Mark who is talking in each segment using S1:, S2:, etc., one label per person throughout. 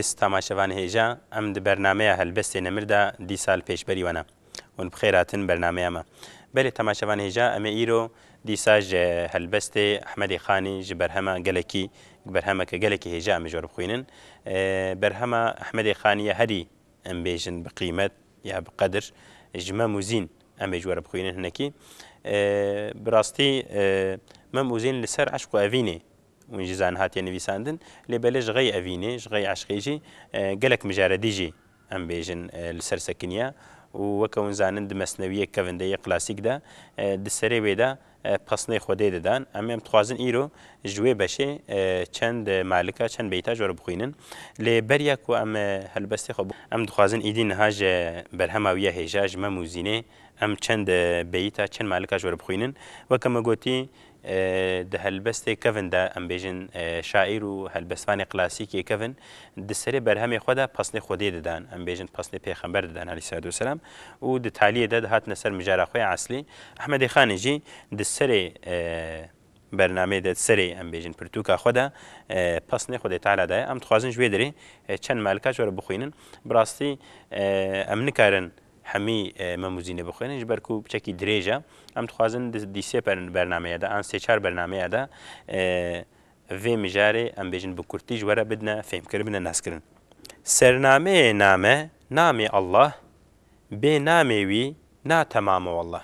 S1: Stama Şevan Hêja, Em di bernameya Helbestê Nemir de dî sal pêş berî we ne. Hûn bi xêr hatin bernameya me. Belê Stama Şevan Hêja, Em ê îro dîsa ji helbestê Ehmedê Xanî ji berhema gelekî, berhemeke gelekî hêja em ê ji we re bixwînin. Berhema Ehmedê Xanî ye herî em bêjin bi qîmet ya bi qedir. Ji Mem û Zîn em ê ji we re bixwînin hinekî. Bi rastî Mem û Zîn li ser eşq û evînê Hûn jî zanin hatiye nivîsandin, lê belê ji xey evînê, ji xey eşqê jî gelek mijaredî jî em bêjin li ser sekiniya û weke hûn zanin di mesnewiyê kevinde yê klasîk de di serê wê de pesnê xwedê didan. Em em dixwazin îro ji wê beşê çend malika, çend beyta ji we re bixwînin. Lê beriya ku em helbestê xwe. Em dixwazin îdî niha ji berhema wî ya hêja, ji mem û zînê em çend beyita, çend malika ji we re bixwînin. Weke me gotî. Di helbestê kevn de em bêjin şaîr û helbestvanê klasîkê kevn di serê berhemê xwe de pesnê Xwedê didan, em bêjin pesnê pêxember didan aleyhîsselatu weselam û di taliyê de dihatine ser mijara xwe ya eslî. Ehmedê Xanê jî di serê bernameyê de di serê em bêjin pirtûka xwe de pesnê Xwedê Teala daye. Em dixwazin ji wê derê çend malikaç were bixwînin. Bi rastî em nikarin Hemî mem û zînê bixwînin ji ber ku çekî dirêj e. Em dixwazin di sê bernameya de an sê çar bernameya de vê mijarê em bêjin bi kurtî ji we re bidine fêmkirin bidine nezkirin. Sernameyê name, Namê Allah, bê namê wî na temam e wallah.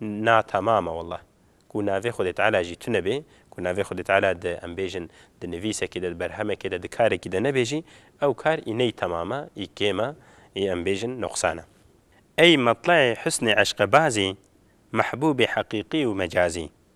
S1: Na tamam e wallah. Ku navê Xwedê Teala jî tune bê, ku navê Xwedê Teala di em bêjin di nivîsekê de, di berhemekê de, di karekî de nebe jî, ew kar î ney tamam e, î kêm e, î em bêjin nuqsan e. Ey metlaê husnê eşqebazî, mehbûbê heqîqî û mecazî.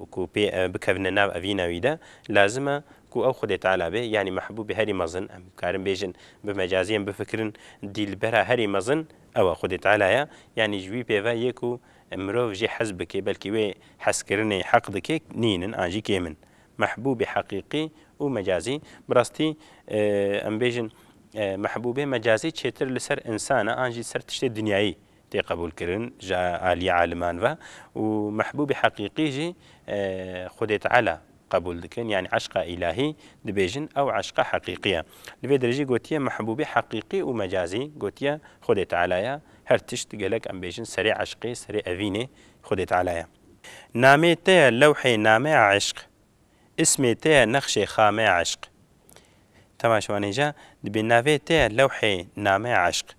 S1: û ku pê ew bikevine nav evîna wî de, lazim e ku ew Xwedê Teala be, yanî mehbûbê herî mezin, em dikarin bêjin bi mecazî em bifikirin, dîlbera herî mezin ew e Xwedê Teala ye, yanî ji wî pê ve yê ku mirov jê hez bike, belkî wê hezkirinê heq dike, nîn in an jî kêm in. Mehbûbê heqîqî û mecazî, bi rastî em bêjin mehbûbê mecazî çêtir li ser însan e an jî li ser tiştê dinyayî tê qebûlkirin ji aliyê aliman ve û mehbûbê heqîqî jî Xwedê Teala qebûl dikin yanî eşqa îlahî dibêjin ew eşqa heqîqî ye. Li vê dirêjî gotiye mehbûbê heqîqî û mecazî gotiye Xwedê Teala ye, her tişt gelek em bêjin serê eşqê, serê evînê Xwedê Teala ye. Namê te ye lewhê nameya eşq, îsmê te ye nexşê xameya eşq. Temaşevanê ja, dibê navê te ye lewhê nameya eşq.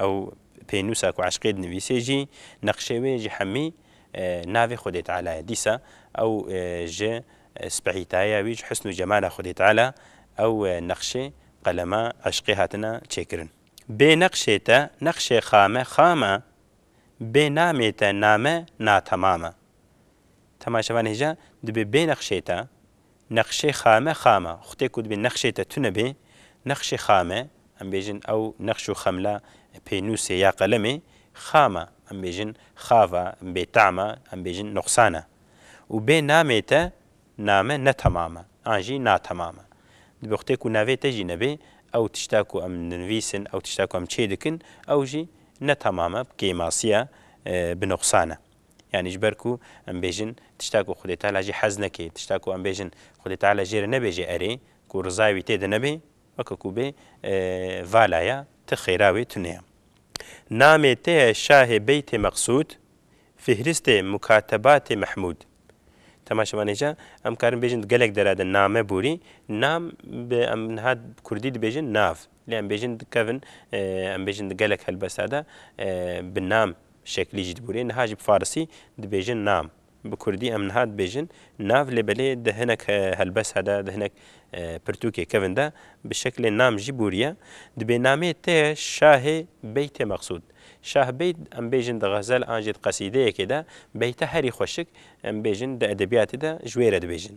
S1: Ew pênûsa ku eşqê dinivîsê jî neqşê wê ji hemî navê Xwedê Teala ye. Dîsa ew ji spehîtayeya wî, ji husn û cemala Xwedê Teala ew neqşê qelema eşqê hatine çêkirin. Bê neqşê te neqşê xame xam e, bê namê te name natemam e. Temaşevan hêja dibê bê neqşê te Nexşê xame xama, xutê ku dibê nexşê te tune bê, nexşê xame, em bêjin ew nexş û xemla pênûsê ya qelemê, xama, em bêjin xava, bêtama, em bêjin nuqsana. Û bê namê te, name ne temama, an jî natemama. Dibê xutê ku navê te jî nebê, ew tişta ku em dinivîsin, ew tişta ku em çêdikin, ew jî ne temama, bi kêmasiya, bi nuqsana. Yanî ji ber ku em bêjin tişta ku Xwedê Teala jî hez neke, tişta ku em bêjin Xwedê Teala jê re nebêje erê, ku rizaya wî tê de nebe, weke ku bê vala ya, tu xêra wê tune ye. Namê te ye Şahê Beytê Meqsûd, Fihristê Mukatebatê Mehmûd. Temaşe van êca em karin bêjin di gelek dera de name borî, nam bi em niha bi kurdî dibêjin nav, lê em bêjin dikevin em bêjin di gelek helbesta de bi nam Şeklî jî dibûrê. Niha jî bi farisî dibêjin nam. Bi kurdî em niha dibêjin nav lê belê di hinek helbesa de, di hinek pirtûkê kevin de bi şeklê nam jî bûriye. Di bênamê te ye şahê beytê meqsûd. Şah beyt em bêjin di xezel an jî di qesîdeyekê de beyta herî xweşik em bêjin di edebiyatê de ji wê re dibêjin.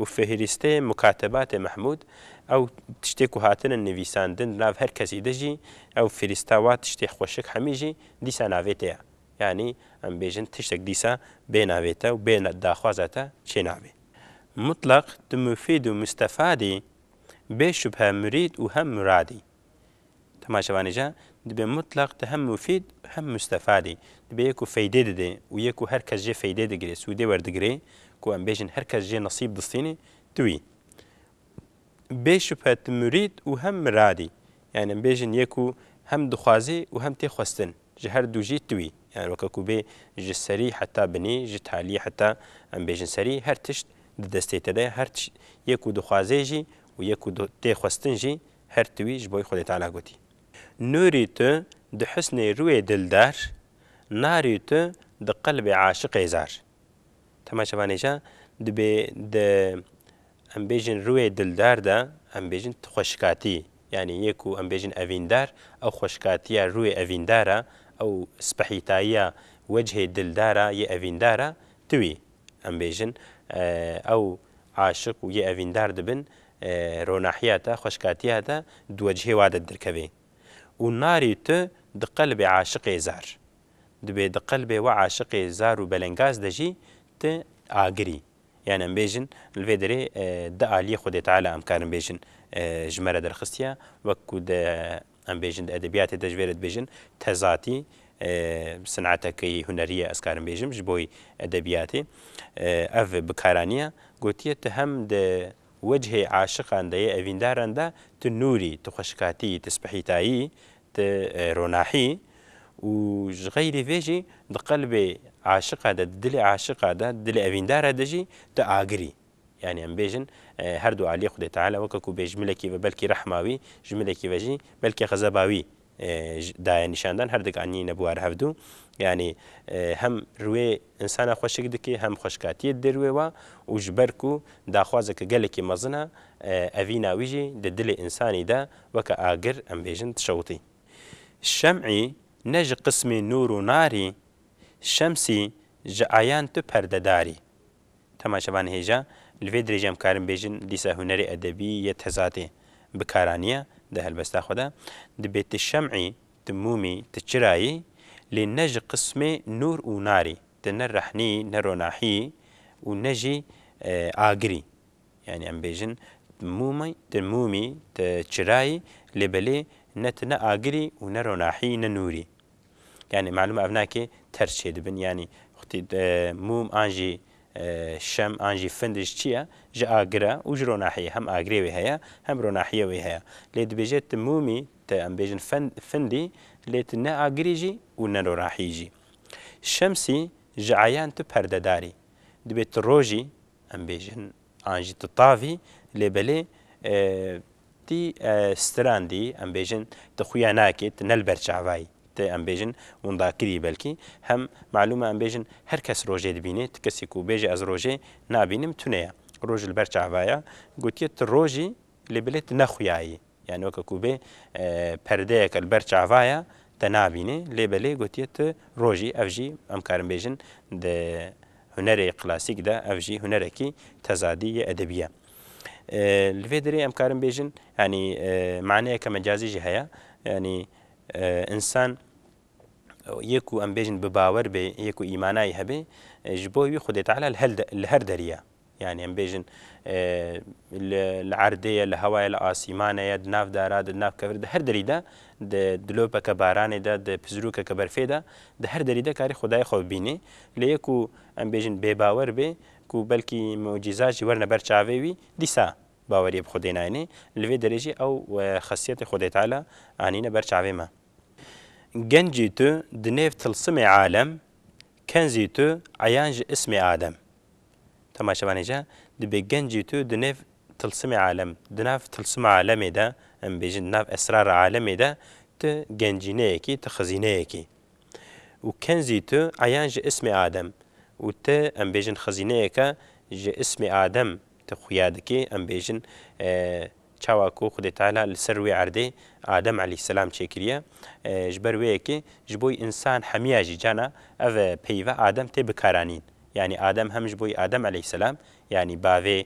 S1: Û fihirîstê mukatebatê Mehmûd, ew tiştê ku hatine nivîsandin di nav her kesî de jî, ew fihirîsta wa tiştê xweşik hemî jî dîsa navê te ye. Yanî em bêjin tiştek dîsa bê navê te û bê daxwaza te çê nabê. Mutleq tu mufîd û mustefad î, bê şubhe murîd û hem murad î. Dema şevanê jî dibê mutleq di hem mufîd û hem mustefadê. Dibê yê ku feydê dide û yê ku her kes jê feydê digirê, sûdê werdigirê, ku em bêjin her kes jê nesîb distînê, tu î. Bê şubhe tu murîd û hem mirad î. Yanî em bêjin yê ku hem dixwazê û hem tê xwestin, ji her du jî tu î. Yanî weke ku bê ji serî heta binî, ji talî heta em bêjin serî her tişt di destê te de ye. Her tişt yê ku dixwazê jî û yê ku tê xwestin jî Her ti wî ji boî Xwedê Teala gotî. Nûrî tu di husnê rûyê dildar, narî tu di qelbê aşiqê zar. Tema çevanê ca dibê di em bêjin rûyê dildar de em bêjin tu xweşikatî. Yanî yê ku em bêjin evîndar, ew xweşikatiya rûyê evîndar e, ew spehîtayiya wecihê dildar a yê evîndar e, ti wî. Em bêjin ew aşiq û yê evîndar dibin Ronahiya te, xweşkatiya te di wecihê wa de dirkeve û narî tu di qelbê aşiqê zar. Dibê di qelbê we aşiqê zar û belengaz de jî tu agirî. Yan em bêjin li vê derê di aliyê Xwedê Teala em karin bêjin ji me re derxistiye wek ku di Em bêjin di edebiyatê de ji vê re dibêjin tezatî sineteke yê hunerî ye ez karim bêjim ji bo edebiyatê ev bikaranîya gotiye tu hem di wecihê aşiqan de yê evîndaran de tu nûr î, tu xweşikatî yî, tu spihîtayî, tu ronahî û ji xeyrî vê jî di qelbê aşiqa de, di dilê aşiqa de, di dilê evîndara de jî tu agir î. Yanî em bêjin her du aliyê Xwedê Teala weke ku bê ji milekî ve belkî rehma wî, ji milekî ve jî belkî xezeba wî daye nîşandan, her dik anî ne bûar hev du. Yanî hem riwê insana xweşik dikê hem xweşkatiyê didê riwê wa û ji ber ku daxwazeke gelekî mezin e, evîna wî jî di dilê insanî de weke agir em bêjin dişewitî. Şem'î ne ji qismê nûr û narî, şemsî ji ayan tu perdedarî. Dema şevan hêja, li vê dirêjê em karin bêjin Lîsa Hunerê Edebî yê Tezatê bi kara niye di helbesta xwe de. Dibê ti şem'î, ti mûmî, ti çirayî, lê ne ji qismê nûr û narî, ti ne rehnî, ne ronahî û ne jî agirî. Yanî em bêjin mûmî, ti mûmî, ti çirayî, lê belê ne ti ne agirî û ne ronahî, ne nûrî. Yanî malûm e ev ne kê terz çêdibin yanî xwitî mûm an jî şem an jî findij çi ye ji agir e û ji ronahiyê hem agirê wê heye hem ronahiyê wê heye. Lê dibêje tu mûmî tu em bêjin findî lê tu ne agirî jî û ne ronahiyî jî. Şemsî ji eyan tu perdedar î. Dibê tu rojî em bêjin An jî tu tavî, lê belê tî strandî, em bêjin tu xuya nakê, tu ne li ber çavayî, tu em bêjin windakirî belkî, hem malûm e em bêjin her kes rojê dibînê, tu kesî ku bêje ez rojê nabînim tune ye. Roj li ber çavaya gotiye tu rojî lê belê tu ne xuyayî. Yanî weke ku bê perdeyeke li ber çava ye te nabînê lê belê gotiye tu rojî ev jî em karin bêjin di hunerê klasîk de ev jî hunerekî tezadî yê edebî ye. Li vê derê em karin bêjin yanî maneyeke mecazî jî heye yanî însan yê ku em bêjin bi bawer bê yê ku îmana yê hebê ji bo wî Xwedê Teala li her derî ye. Yanî em bêjin li erdê ye, li hewa ye, li asîmane ye, di nav dara de, di nav kevir de, her derî de, di dilopeke baranê de, di pizrûkeke berfê de, di her derî de karî Xwedayê xwe bibînê. Lê yê ku em bêjin bêbawer bê, ku belkî mucîza jî werine ber çavê wî, dîsa baweriyê bi Xwedê nayêne. Li vê derê jî ew xesiyetê Xwedê Teala anîne ber çavê me. Gencî tu di nêv tilsimê alem, kenzî tu eyan ji ismê Adem. Temaşevanê ca, dibê gencê tu di nêv tilsimê alem, di nav tilsima alemê de, em bêjin di nav esrara alemê de tu gencîneyekî, tu xizîneyekî. Û kenzî tu eyan ji ismê Adem. Û tu em bêjin xizîneyeke ji ismê Adem tu xuya dikî, em bêjin Çawa ku Xwedê Teala li ser wê erdê Adem eleyhisselam çêkiriye, ji ber wê yekê ji bo însan hemiya jî cana ev peyva Adem tê bikaranîn. Yanî Adem hem ji bo Adem eleyhisselam yanî bavê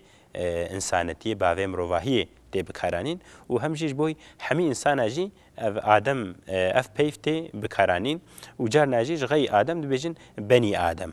S1: însanetiyê, bavê mirovahiyê tê bikaranîn û hem jî ji bo hemî însanan jî ev Adem, ev peyv tê bikaranîn û carna jî ji xeyî Adem dibêjin Benî Adem.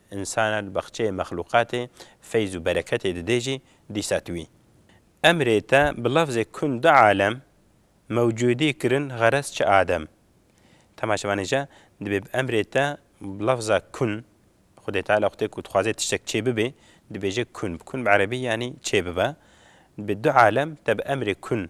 S1: Însana di baxçeyê mexlûqatê feyz û bereketê didê jî dîsa tu wî. Emrê te bi lafzê kun du alem mewcûdî kirin xerez çi adem. Temaşevanê jî dibê bi emrê te bi lafza kun, Xwedê Teala xwedê ku dixwaze tiştek çê bibe dibêje kun, kun bi erebî yanî çê bibe, dibê du alem te bi emrê kun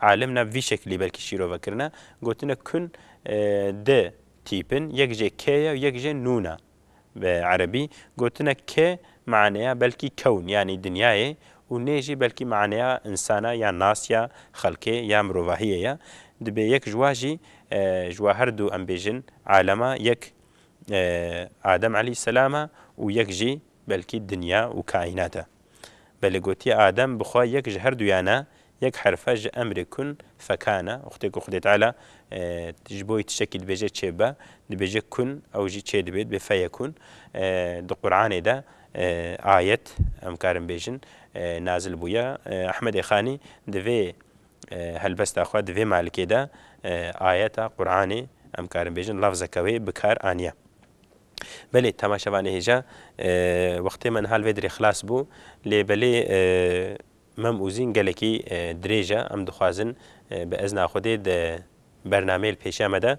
S1: Alim na vî şeklî belkî şîrove kirine, gotine kun di tîpin, yek jê kê ye û yek jê nûn e. Bi erebî, gotine kê maneya belkî kewn yanî dinyayê û nê jî belkî maneya însan e ya nas ya xelkê ya mirovahiyê ye. Dibê yek ji wa jî ji wa her du em bêjin alem e, yek Adem elî selam e û yek jî belkî dinya û kaînat e. Belê gotiye Adem bi xwe yek ji her duyan e, yek herfe ji emrê kun fekan e. Wextê ku Xwedê Teala ji bo wî tiştekî dibêje çê bibe, dibêje kun ew jî çê dibe, dibê feyekun. Di Quranê de ayet, em karin bêjin, nazil bûye. Ehmedê Xanî di vê helbesta xwe, di vê malikê de ayeta Quranê, em karin bêjin lafzeke wê bi kar aniye. Belê temaşe vanê hêja, wextê me niha li vê dirê xilas bû, lê belê mem û zîn gelekî dirêj e, em dixwazin bi ezna Xwedê di bernameyê li pêşiya me de,